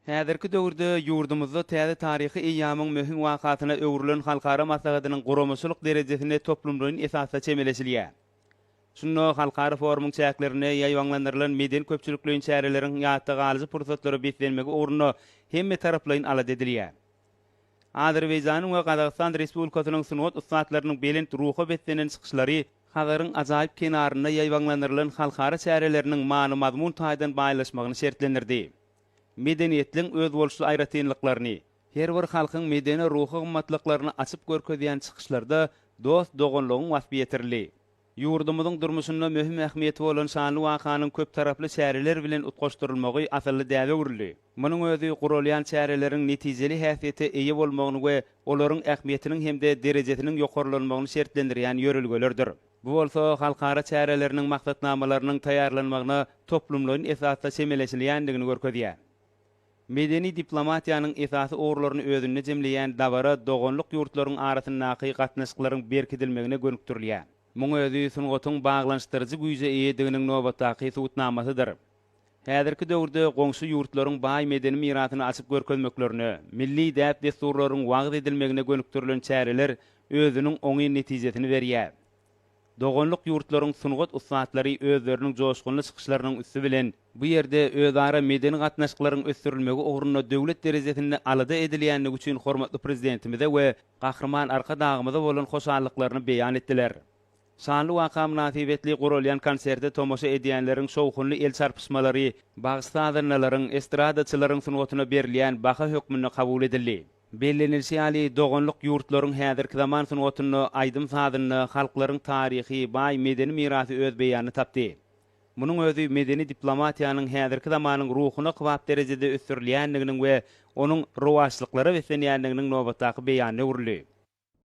Häzirki döwürde ýurdumyzda täze taryhy eýýamyň möhüm wakasyna öwrülen halkara maslahatynyň guramaçylyk derejesine toplumlaýyn esasda çemeleşilýär. Şunda halkara forumyň çäklerinde ýaýbaňlandyrylan medeni-köpçülikleýin çäreleriň ýatda galyjy pursatlara beslenmegi ugrunda hemmetaraplaýyn alada edilýär. Azerbaýjanyň we Gazagystan Respublikasynyň sungat ussatlarynyň belent ruha beslenen çykyşlary Hazaryň ajaýyp kenarynda ýaýbaňlandyrylan halkara çäreleriniň many-mazmun taýdan baýlaşmagyny şertlendirdi. Medeniýetliň özboluşly aýratynlyklaryny, her bir halkyň medeni-ruhy gymmatlyklaryny açyp görkezýän çykyşlarda dost-doganlygyň waspy ýetirildi. Ýurdumyzyň durmuşynda möhüm ähmiýeti bolan şanly wakanyň köptaraply çäreler bilen utgaşdyrylmagy asylly däbe öwrüldi. Munuň özi guralýan çäreleriň netijeli häsiýete eýe bolmagyny we olaryň ähmiýetiniň hem-de derejesiniň ýokarlanmagyny şertlendirýän ýörelgelerdir. Bu bolsa halkara çäreleriniň maksatnamalarynyň taýýarlanmagyna toplumlaýyn esasda çemeleşilýändigini görkezýär. Medeni diplomatiýanyň esasy ugurlaryny özünde jemleýän dabara doganlyk ýurtlaryň arasyndaky gatnaşyklaryň berkidilmegine gönükdirilýär. Muň özi sungatyň baglanyşdyryjy güýje eýediginiň nobatdaky subutnamasydyr. Häzirki döwürde goňşy ýurtlaryň baý medeni mirasyny açyp görkezmeklerine, milli däp-dessurlaryň wagyz edilmegine gönükdirilen çäreler özüniň oňyn netijesini berýär. Doganlyk ýurtlaryň sungat ussatlary özleriniň joşgunly çykyşlarynyň üsti bilen, bu ýerde özara medeni gatnaşyklaryň ösdürilmegi ugrunda döwlet derejesinde alada edilýändigi üçin hormatly Prezidentimize we Gahryman Arkadagymyza bolan hoşallyklaryny beýan etdiler. Şanly waka mynasybetli guralýan konserte tomaşa edýänleriň şowhunly el çarpyşmalary bagyş-sazandalaryň, estradaçylaryň sungatyna berilýän baha hökmünde kabul edildi. Bellenilişi ýaly, doganlyk ýurtlaryň häzirki zaman sungatynda, aýdym-sazynda halklaryň taryhy, baý medeni mirasy öz beýanyny tapdy. Munuň özi medeni diplomatiýanyň häzirki zamanyň ruhuna kybap derejede ösdürilýändiginiň we onuň rowaçlyklara beslenýändiginiň nobatdaky beýanyna öwrüldi.